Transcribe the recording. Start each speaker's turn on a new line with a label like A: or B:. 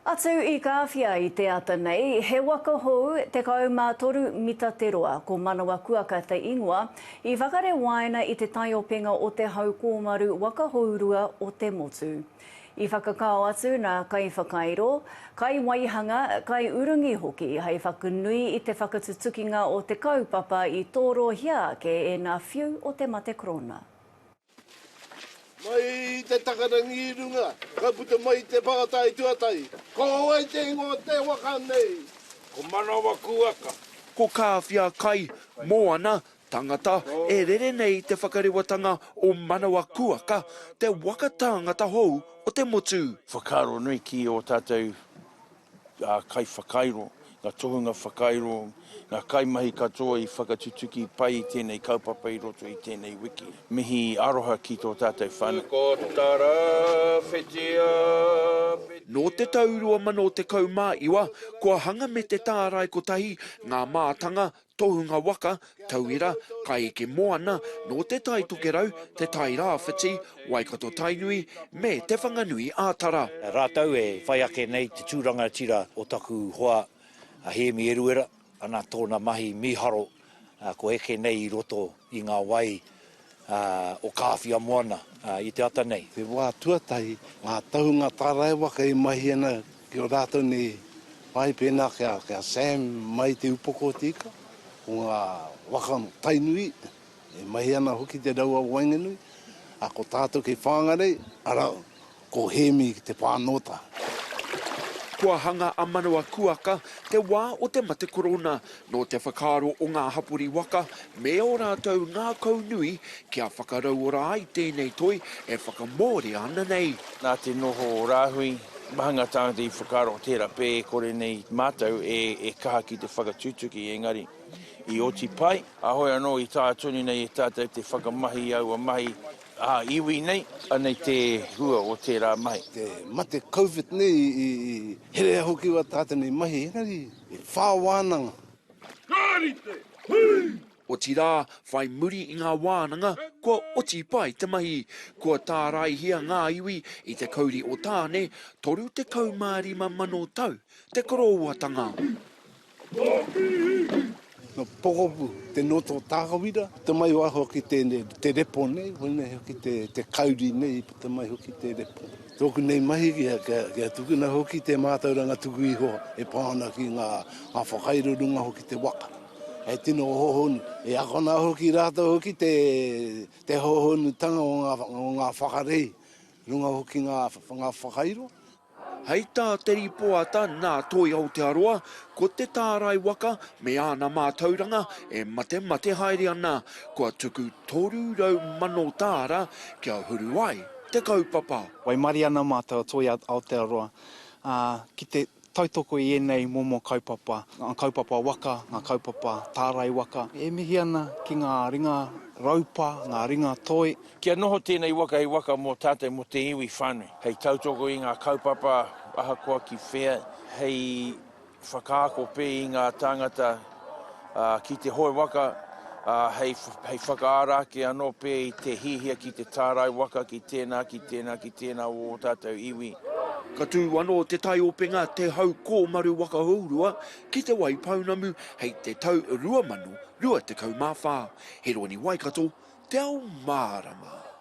A: Atu i Kāwhia i te ata nei, he waka hou, 13 mita te roa, ko Manawakuaka te ingoa, i whakare wāina i te taiopenga o te hau kōmaru waka hourua o te motu. I whakakao atu nā kaiwhakairo, kaiwaihanga, kaiurungi hoki hei whakanui i te whakatutukinga o te kaupapa i tōrohia ake e ngā whiu o te mate korona. Mai
B: i te takarangi i runga, ka puta mai i te whakatai tuatahi. Ko wai te ingoa o te waka nei? Ko
C: Manawakuaka. Ko Kāwhia
D: Kai, Moana, tangata e rere nei te whakarewatanga o Manawakuaka, te waka tāngata hou o te motu. Whakaaro nui ki
C: ō tātou ngā kaiwhakairo, ngā tohunga whakairo, ngā kaimahi katoa i whakatutuki pai i tēnei kaupapa i roto i tēnei wiki. Mihi aroha ki tō tātou whānau. Ko Tara Whitia
D: Peterra. Nō te tau 2019, kua hanga me te tārai kotahi ngā mātanga Tohunga waka, tauira, kaieke moana, nō Te Tai Tokerau, Te Tai Rāwhiti, Waikato Tainui, me Te Whanganui ā Tara. Rātou e
E: whai ake nei te tū rangatira o taku hoa a Hēmi Eruera, ana tōna mahi mīharo ko eke nei i roto i ngā wai. ā, o Kāwhia moana, ā, i te ata nei. Te wā tuatahi,
B: ngā tohunga tāraewaka i mahi ana ki ō rātou nei whai pēnā kia, kia Sam mai te upoko o te ika, ko ngā waka Tainui, e mahi ana hoki te rau a waenganui, ā, ko tātou kei Whāngarei, arā, Ko Hēmi te whānōta.
D: Kua hanga a Manawakuaka, te wā o te mate korona, nō te whakaaro o ngā hapori waka me ō rātou ngākau nui kia whakarauora ai tēnei toi e whakamōrea ana nei. Nā te noho o
C: Rāhui, mahanga tāngata i whakaaro tērā pē e kore nei mātou e kaha ki te whakatutuki engari i oti pai. Āhoi anō i tā tonu nei e tātou te whakamahi i aua mahi Aha iwi nei, anei te hua o tērā mahi. Te mate
B: Covid nei i herea hoki wā tā tenei mahi, engari e whā wānanga. Kāri
C: te hui! Otirā,
D: whai muri i ngā wānanga, kua oti pai te mahi. Kua tāraihia ngā iwi i te kauri o Tāne, 35 mano tau te korowatanga.
B: No Pokopu te noto o Takawira, puta mai wā hoki te repo nei, wēnei hoki te kauri nei, puta mai hoki te repo. Tōku nei mahi kia tukuna hoki te mātauranga tuku iho e pā ana ki ngā whakairo runga hoki te waka. He tino hohonu, e akona hoki rātou hoki te hohonutanga o ngā whakarei runga hoki ngā whakairo. Hei
D: tā te rīpoata nā Toi Aotearoa, ko te tārai waka me āna mātauranga e matemate haere ana, kua tuku 300,000 tāra kia huru ai te kaupapa. Waimarie ana
F: mātou a Toi Aotearoa ki te tautoko i ēnei momo kaupapa, ngā kaupapa waka, ngā kaupapa tārai waka e mihi ana ki ngā ringa raupa, ngā ringa toi, Kia noho tēnei
C: waka hei waka mō tātou, mō te iwi whānui. Hei tautoko i ngā kaupapa ahakoa ki whea, hei whakaako pē i ngā tāngata ki te hoe waka, ā, hei whakaara ake anō pē i te hiahia ki te tārai waka ki tēnā, ki tēnā, ki tēnā o ō tātou iwi. Ka tū
D: anō te taiopenga Te Hau Kōmaru Waka Hourua ki Te Waipounamu hei te tau 2024, Heroni Waikato, Te Ao Mārama.